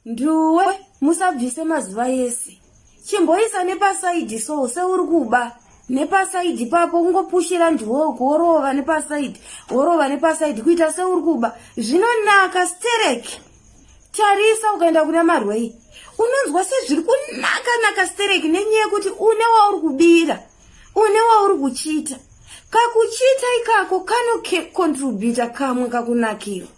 nduwe musabvise mazuva yese chimboisa nepasaidhi so seuri kuba nepasaidhi papo ungopushira nduwe uku worova nepasaidhi worova nepasaidhi kuita seuri kuba zvinonaka stereki tarisa ukaenda kuna marwei unonzwa sezviri kunaka naka stereki nenyaya yekuti une wauri kubira une wauri kuchiita kakuchiita ikako kanocontributa kamwe kakunakirwa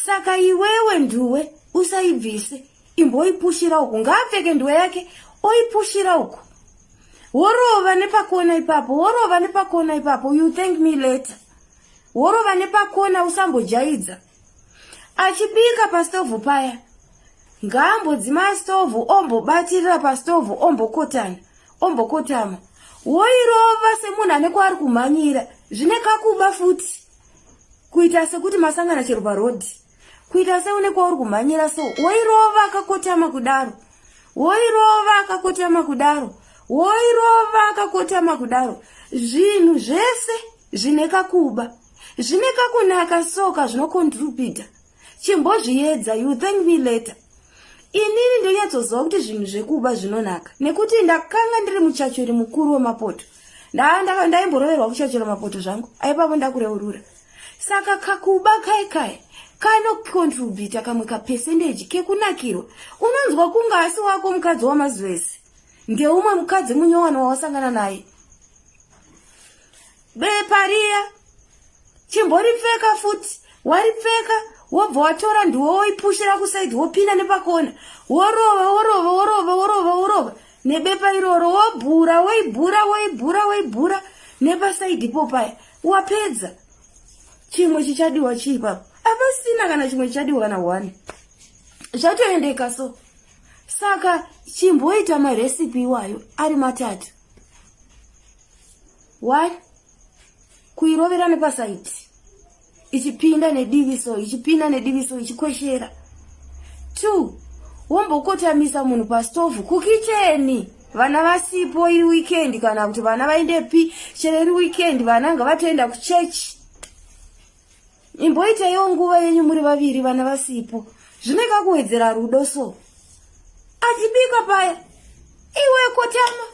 saka iwewe nduwe usaibvise imboipushira uku ngaapfeke nduwe yake oipushira uku worova nepakona ipapo worova nepakona ipapo you thank me later worova nepakona usambojaidza achibika pastovhu paya ngaambodzima stovhu ombobatirira pastovhu ombokotana ombokotama woirova semunhu ane kwaari kumhanyira zvine kakuba futi kuita sekuti masangana chero parodhi kuita seune kwauri kumhanyira so woirova akakotama kudaro woirova akakotama kudaro woirova akakotama kudaro zvinhu zvese zvine kakuba zvine kakunaka soka zvinokontrubhita chimbozviedza you thank me later inini ndonyatsoziva kuti zvinhu zvekuba zvinonaka nekuti ndakanga ndiri muchachori mukuru wemapoto ndaimboroverwa kuchachora mapoto zvangu aipapo ndakureurura saka kakuba kai kai kanocontribita kamwe kapesendeji kekunakirwa unonzwa kunga asi wako mukadzi wamazuva ese ndeumwe mukadzi munyowani wawasangana naye bepa riya chimboripfeka futi waripfeka wobva watora ndiwo woipushira kusaidi wopinda nepakona worova worova worova worova worova nebepa iroro wobhura woibhura woibhura woibhura nepasaidi po paya wapedza chimwe chichadiwa chii papo apasina kana chimwe chichadiwa kana one zvatoendeka so saka chimboita maresipi iwayo ari matatu why kuirovera nepasaiti ichipinda nedivi so ichipinda nedivi so ichikweshera two wombokotamisa munhu pastovhu kukicheni vana vasipo iri weekend kana kuti vana vaendepi chero iri weekend vana ngavatoenda kuchechi imboitaiwo nguva yenyu muri vaviri vana vasipo zvine kakuwedzera rudo so achibika paya iwe kotama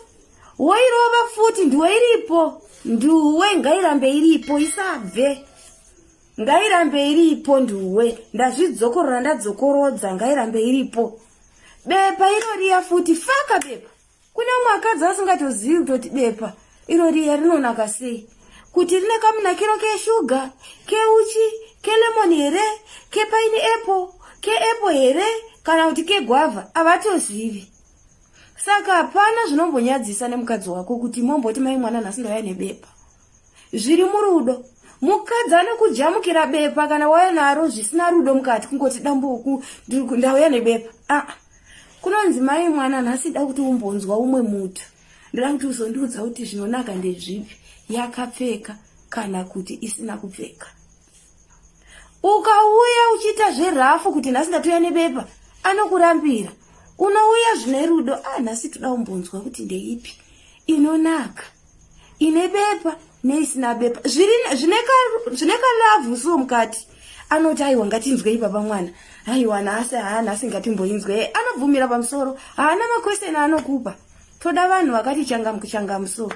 woirova futi ndiwe iripo nduwe ngairambe iripo isabve ngairambe iripo nduwe ndazvidzokorora ndadzokorodza ngairambe iripo bepa inoriya futi faka bepa Kune umwe akadzi asingatozivi kutoti bepa iro riya rinonaka sei, kuti rine kamunakiro keshuga, keuchi, kelemoni here, kepaini epo, keepo here kana kuti kegwavha, havatozivi. Saka hapana zvinombonyadzisa nemukadzi wako kuti momboti mai mwana nhasi ndauya nebepa. zviri murudo mukadzi anokujamukira bepa kana wauya naro zvisina rudo mukati kungoti dambuku ndauya nebepa aa ah, kunonzi mai mwana nhasi da kuti umbonzwa umwe mutu ndoda kuti uzondiudza kuti zvinonaka ndezvipi yakapfeka kana kuti isina kupfeka ukauya uchiita zverafu kuti nhasi ndatuya nebepa anokurambira unouya zvine rudo a ah, nhasi toda umbonzwa kuti ndeipi inonaka ine bepa neisina bepa zvine kalavhu so mukati anoti aiwa ngatinzwei baba mwana aiwa nhasi haa nhasi ngatimboinzwei anobvumira pamusoro haana makweseni anokupa toda vanhu vakati changamuchangamusoro